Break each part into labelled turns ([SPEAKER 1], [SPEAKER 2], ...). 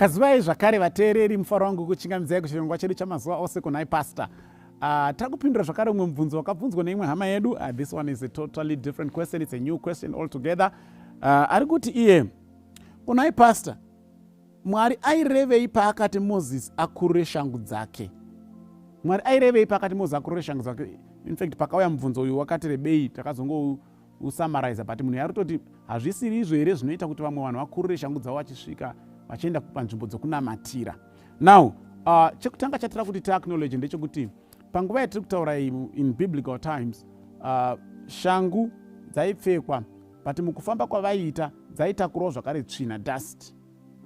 [SPEAKER 1] kazivai zvakare vateereri mufaro wangu kuchingamidzai kuchirongwa chedu chamazuva ose kunhai pasta Uh, ah, tiri kupindura zvakare umwe mubvunzo wakabvunzwa neimwe hama yedu uh, this one is a totally different question it's a new question altogether uh, ari kuti iye kunai pastor Mwari airevei paakati Moses akurure shangu dzake? Mwari airevei paakati Moses akurure shangu dzake? In fact, pakauya mubvunzo uyu wakati rebei, takazongousamaraiza but munhu yarutoti hazvisiri izvo here zvinoita kuti vamwe vanhu vakurure shangu dzavo vachisvika vachienda panzvimbo dzokunamatira. Now, uh, chekutanga chatira kuti tiacknowledge ndechekuti panguva yatiri kutaura in biblical times uh, shangu dzaipfekwa but mukufamba kwavaiita dzaitakurwa zvakare tsvina dust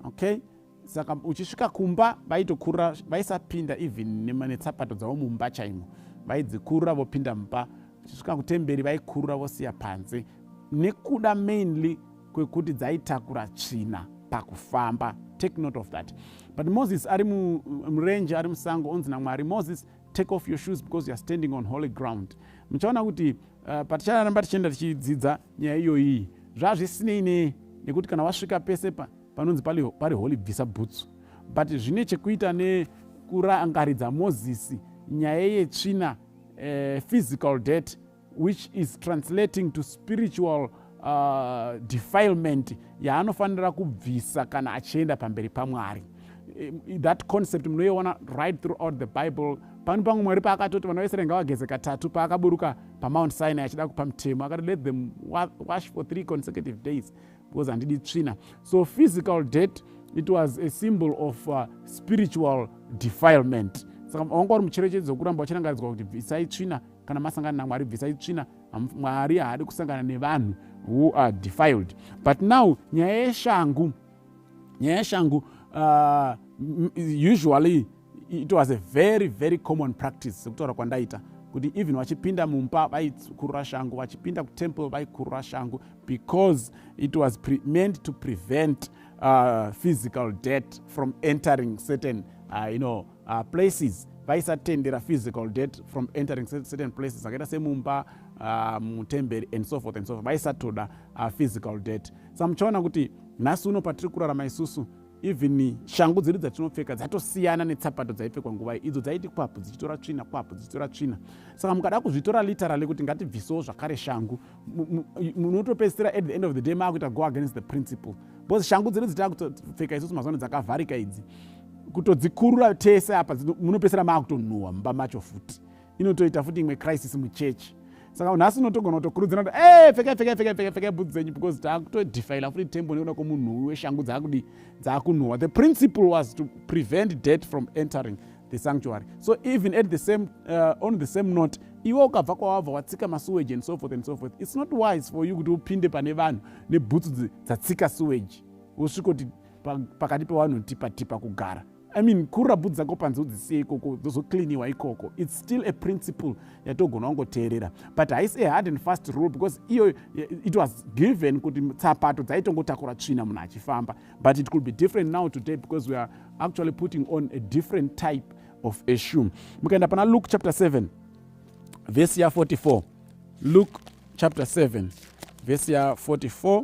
[SPEAKER 1] okay saka uchisvika kumba vaitokurura vaisapinda even netsapato dzavo mumba chaimo vaidzikurura vopinda mumba uchisvika kutemberi vaikurura vosiya panze nekuda mainly kwekuti dzaitakura tsvina pakufamba take note of that but moses ari murenje ari musango onzi namwari moses take off your shoes because youare standing on holy ground muchaona kuti uh, paticharamba tichienda tichidzidza nyaya iyoyi zvazvisinei ne nekuti kana wasvika pese pa, panonzi pari, pari holy bvisa bhutsu but zvine chekuita nekurangaridza mozisi nyaya yetsvina uh, physical debt which is translating to spiritual uh, defilement yaanofanira kubvisa kana achienda pamberi pamwari eh, that concept munoiona right throughout the bible pano pamwe mwari paakatoti vana vaisraeri ngavageze katatu paakaburuka pamount sinai achida kupa mutemo akati let them wash for three consecutive days because handidi tsvina so physical debt it was a symbol of uh, spiritual defilement saka wanga uri mucherechedzo wekuramba wachirangaridzwa kuti bvisai tsvina kana masangana namwari bvisai tsvina mwari haadi kusangana nevanhu who are defiled but now nyaya yeshangu nyaya yeshangu uh, usually it was a very very common practice sekutaura kwandaita kuti even vachipinda mumba vaikurura shangu vachipinda kutemple vaikurura shangu because it was pre meant to prevent uh, physical debt from entering certain uh, you know, uh, places vaisatendera physical debt from entering certain places akaita semumba uh, mutemberi and so forth and so forth vaisatoda uh, physical debt sa muchaona kuti nhasi uno patiri kurarama isusu even shangu dzedu dzatinopfeka dzatosiyana netsapato dzaipfekwa nguva idzo dzaiti kwapu dzichitora tsvina kwapu dzichitora tsvina saka mukada kuzvitora literally kuti ngatibvisewo zvakare shangu munotopedzisira at the end of the day maakuita go against the principle because shangu dzedu dzitakutopfeka isusu mazano dzakavharika idzi kutodzikurura tese apa munopedzisira maakutonhuhwa mumba macho futi inotoita futi imwe crisis muchechi saka nhasi unotogona kutokurudzira kuti e pfekai pfekai pfekai pfekai pfekai bhudzi dzenyu because taakutodhifaila futi tembo nekuda kwomunhuwi weshangu dzaakudii dzaakunhuwa the principle was to prevent debt from entering the sanctuary so even at the same uh, on the same note iwe ukabva kwawabva watsika masuwage and so forth and so forth it's not wise for you kuti upinde pane vanhu nebhutsu dzatsika suwage wosvikoti pakati pevanhu tipa tipa kugara I mean kurabhu dzako panze udzisiye ikoko dzozocleaniwa ikoko its still a principle yatogona wangoteerera but haisi a hard and fast rule because iyo eh, it was given kuti tsapato dzaitongotakura tsvina munhu achifamba but it could be different now today because we are actually putting on a different type of a shoe mukaenda pana luke chapter 7 vhesi ya 44 luke chapter 7 vhesi ya 44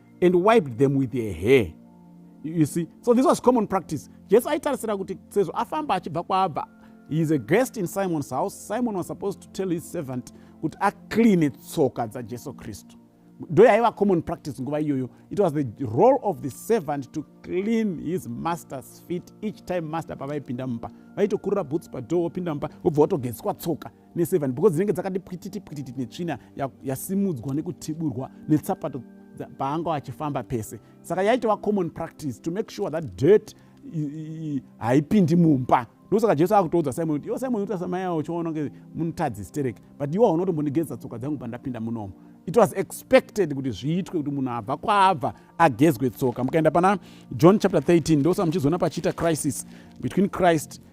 [SPEAKER 1] and wiped them with her hair you see so this was common practice jesu aitarisira kuti sezvo afamba achibva kwaabva he is a guest in simon's house simon was supposed to tell his servant kuti acleane tsoka dzajesu kristu ndo yaiva common practice nguva iyoyo it was the role of the servant to clean his master's feet each time master pavaipinda mumba vaitokurura boots padoor wopinda mumba wobva watogeziswa tsoka neseven because dzinenge dzakati pwititi pwititi netsvina yasimudzwa ya nekutiburwa netsapato paanga achifamba pese saka yaitova common practice to make sure that dirt haipindi mumba ndosaka jesu akutoudza simon kuti iwo simon unoita samayawo uchiona kunge munotadzi stereki but iwo haunotombondigezesa tsoka dzangu pandapinda munomo it was expected kuti zviitwe kuti munhu abva kwaabva agezwe tsoka mukaenda pana john chapter 13 ndosaka muchizoona pachiita crisis between christ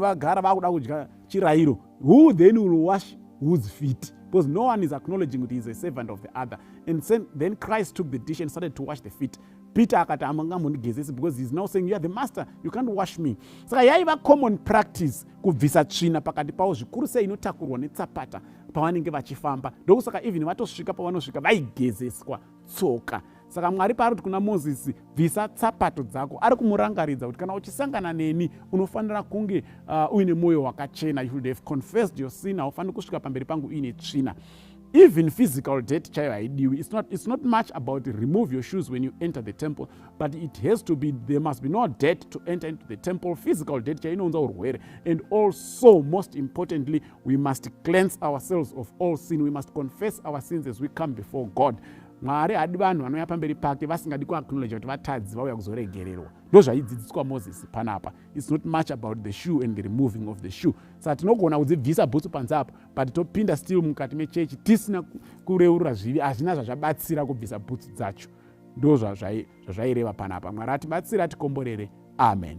[SPEAKER 1] vagara vakuda kudya chirairo who then will wash whose feet because no one is acknowledging kuti is a servant of the other and then christ took the dish and started to wash the feet peter akati amangamundigezesi because heis now saying youare the master you can't wash me saka yaiva common practice kubvisa tsvina pakati pavo zvikuru sei inotakurwa netsapata pavanenge vachifamba ndokusaka even vatosvika pavanosvika vaigezeswa tsoka saka mwari paari kuti kuna mozisi bvisa tsapato dzako ari kumurangaridza kuti kana uchisangana neni unofanira kunge uh, uine mwoyo wakachena you should have confessed your sin haufaniri kusvika pamberi pangu uine tsvina even physical debt chaiyo haidiwi it's not, it's not much about remove your shoes when you enter the temple but it has to be there must be no debt to enter into the temple physical debt chaiyo inounza urwere and also most importantly we must cleanse ourselves of all sin we must confess our sins as we come before god mwari hadi vanhu vanouya pamberi pake vasingadi kuaknowledge kuti vatadzi vauya kuzoregererwa ndo zvaidzidziswa moses panapa its not much about the shoe and the removing of the shoe saka tinogona kudzibvisa bhutsu panze apo but topinda still mukati mechechi tisina kureurura zvivi hazvina zvazvabatsira kubvisa bhutsu dzacho ndo zvazvaireva panapa mwari atibatsire atikomborere amen